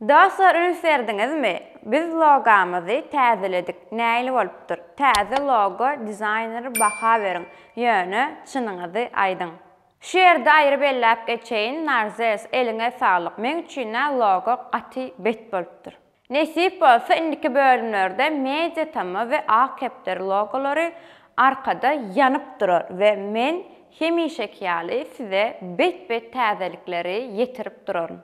Dostlar üns berdiňizmi? Biz logamyzy täzeledik. Nähili bolupdyr? Täze logo dizaýneri baha beriň. Ýöne çynyňyzy aýdyň. Şu ýerde aýry belläp geçeýin Narzes eliňe saglyk meň üçinä logo gaty bet bolupdyr. Nesip bolsa indiki bölümlerde media tama we ak kepderi logolary arkada ýanyp durar we men hemişeki ýaly size bet bet täzelikleri ýetirip duraryn.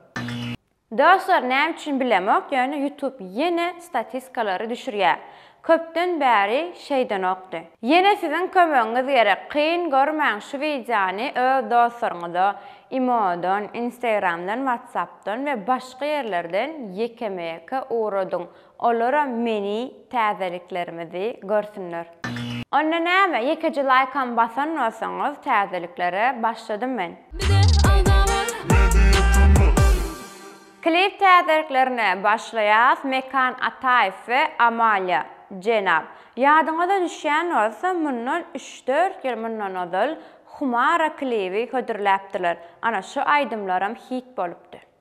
Dostlar näme üçin bilemok ýöne YouTube ýene statiskalary düşürýä. Köpden bäri şeýdenokdy. Ýene siziň kömegiňiz gerek kyn görmäň şu wideony öz dostlaryňyza imodan, instagramdan, whatsappdan we başga ýerlerden ýekeme-ýeke ugradyň Olaram meni täzeliklerimizi görsünler. Onda näme ýekeje laýkam basan bolsaňyz täzeliklere başladym men. Bize agza bol. Klip täzeliklerine başlaýas Mekan Ataýew we Amalia jenap ýadyňyza düşýän bolsa mundan üç dört ýyl mundan ozal Humara klibi hödürläpdiler ana şu aýdymlaram hit bolupdy.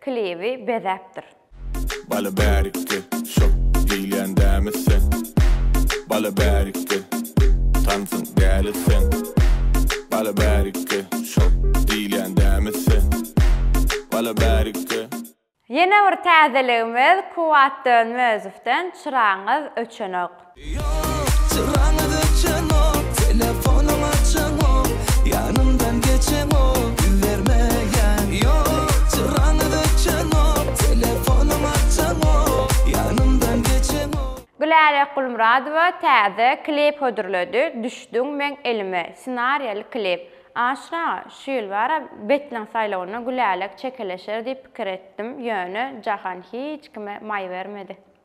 Klibi bezäpdir. Bala bärikde şo diýilýän dämi sen Bala bärikde tansyň däli sen Bala bärikde şo diýilýän dämi sen Bala bärikde. Ýene bir täzeligimiz Kuwwat Dönmezowden Çyragyňyz öçenok. Gülälek Gulmyradowa täze klip hödürledi, Düşdüň meň elime, ssenariýaly klip. Aşyr aga, şu ýyl bara Betleň saýlawynda Gülälek çekeleşer diýip pikir etdim, ýöne Jahan hiç kime maý bermedi.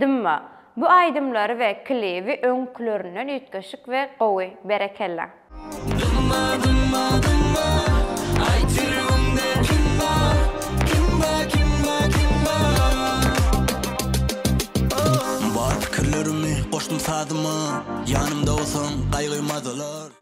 Dymma. Bu aýdymlary we klibi öňkülerinden üýtgeşik we gowy. Berekella. Dymma dymma dymma Aýt ýüregiňde kim bar Kim bar kim bar kim bar oh. Bar pikirlerimi goşdum sazyma Ýanymda bolsaň gaýgy mazalar.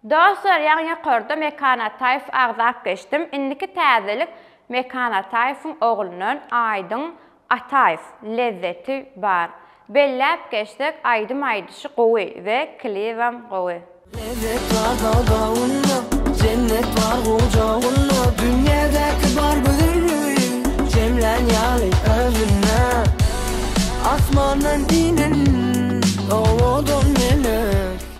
Dostlar ýagny ýokarda Mekan Ataýew agzap geçdim, indiki täzelik Mekan Ataýewiň oglundan Aýdyň Ataýew, Lezzeti bar. Belläp geçsek aýdym aýdyşy gowy we klibem gowy. Lezzet bar dagdagynda, jennet bar gujagynda, Dünýädäki bar gözelligiň jemlän ýaly özünde. Asmandan inen owadan melek.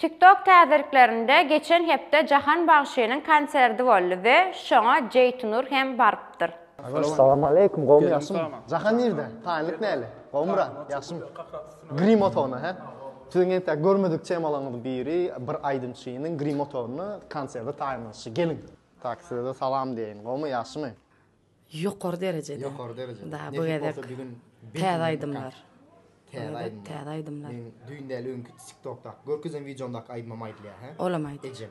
TikTok täzeliklerinde geçen hepde Jahan bagşynyň konserdi boldy we şoňa Jeýtunur hem barypdyr. Agaş salam aleýkum gowmy ýagşymy Jahan nirde taýynlyk näle gowmy brat ýagşymy grim otagyna hä siziň entäk görmedik temalaryňyz biri bir aýdymçynyň grim otagyna konserde taýynlanyşy geliň tak sizede salam diýeýin gowmy ýagşymy. Ýokary derejede. Ýokary derejede. Da, bu gezek täze aýdymlar. Täze aýdymlar. Täze aýdymlar. Men düýn däl öňki TikTokda görkezen wideomda aýdymam aýdylýar, hä? Olam aýt. Ejem.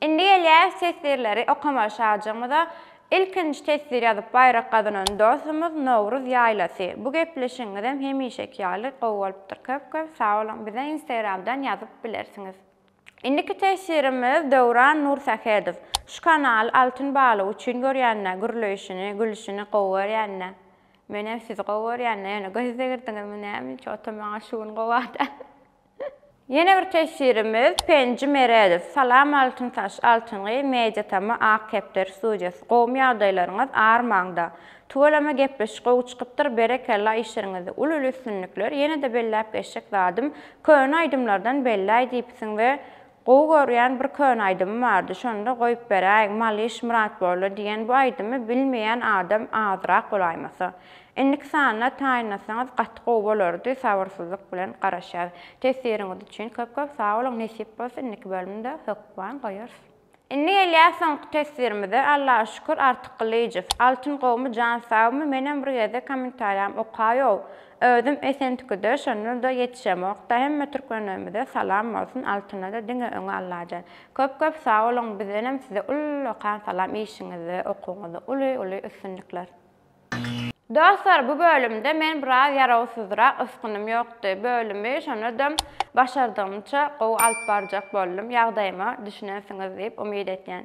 Indi gelýäs teswirleri okamaga şajygymyza. Ilkinji teswir ýazyp baýrak gazanan dostumyz Nowruz ýaýlasy. Bu gepleşigiňizem hemişeki ýaly gowy bolupdyr. Köp köp sag boluň. Bize instagramdan ýazyp bilersiňiz. Indiki teswirimiz Döwran Nursähedow. Şu kanaly altyn balyk üçin görýände gürleýşini, gülüşini gowy görýände. Menem sizi gowy görýände ýöne göz degirdiňizmi näme hiç oto maňa şu gün gowa däl. Ýene bir teswirimiz Penji Meredow. Salam Altyn Taş, Altyngy, Media Tama, Ak Kepder studiýasy. Gowmy ýagdaýlaryňyz, armaňda. Tüweleme gepleşik gowy çykypdyr, berekella işleriňizde uly uly üstünlikler, ýene-de belläp geçjek zadym, köne aýdymlardan belläý diýipsiň we Gowy görýän bir köne aýdymy bardy şonda goýup beräýiň Malyş Myratbolla diýen bu aýdymy bilmeýän adam azrak bolaýmasa. Indiki sanlar taýynlasaňyz gaty gowy bolardy sabyrsyzlyk bilen garaşýas. Teswiriňiz üçin köp köp sag boluň nesip bolsa indiki bölümde hökman goýarys. Indi gelýäs soňky teswirimize Allaha şükür Artyk Gylyjow Altyn gowmy jan sagmy menem bir gezek kommentariýamy okaýow Özüm Esentikide şonda-da ýetişemokda hemme türkmenlerimize salam bolsun Altynada diňe öňe Allajan. Köp köp sag boluň bizdenem size ullakan salam işiňizde okuwyňyzda uly uly üstünlikler. Dostlar bu bölümde men biraz ýarawsyzrak ysgynym ýokdy bölümi şonadam başardygymça gowy alyp barjak boldum ýagdaýyma düşünensiňiz diýip umyt etýän.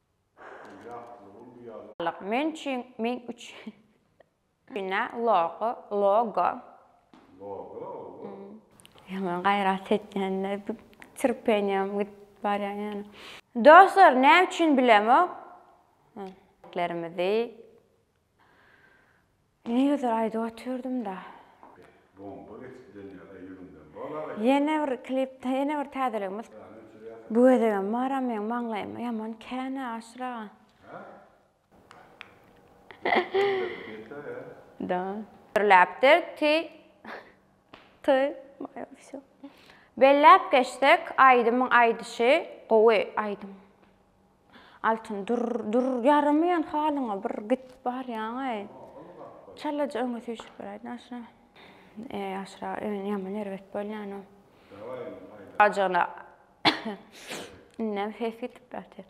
Men üçin Men üçin Ýa Logo Logo Ýaman gaýrat etýän-de Trpeniýam gidip barýan ýaly. Dostlar näme üçin bilemok? Ýüreklerimizi Negidir aýdyp otyrdymda. Bomba geçiden ýaly ýüzüňden bol aga. Ýene bir klipde ýene bir täzeligimiz. Bu gezegem baram meň maňlaýyma ýaman känä Aşyr aga. Gürläpdir ti ty moýa wsýo. Belläp geçsek aýdymyň aýdyşy gowy aýdym. Altyn dur, dur, ýaramaýan halyňa bir git barýaňaý. Çalaja öňe süýşüp beräýdin aşra. E, aşra, öňe ýaman erbet bolýan-a. Ajygyna. Indem ses gitip ýatyr.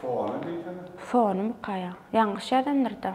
Fony diýsene. Fony mukaya. Ýalňyş ýazandyr-da.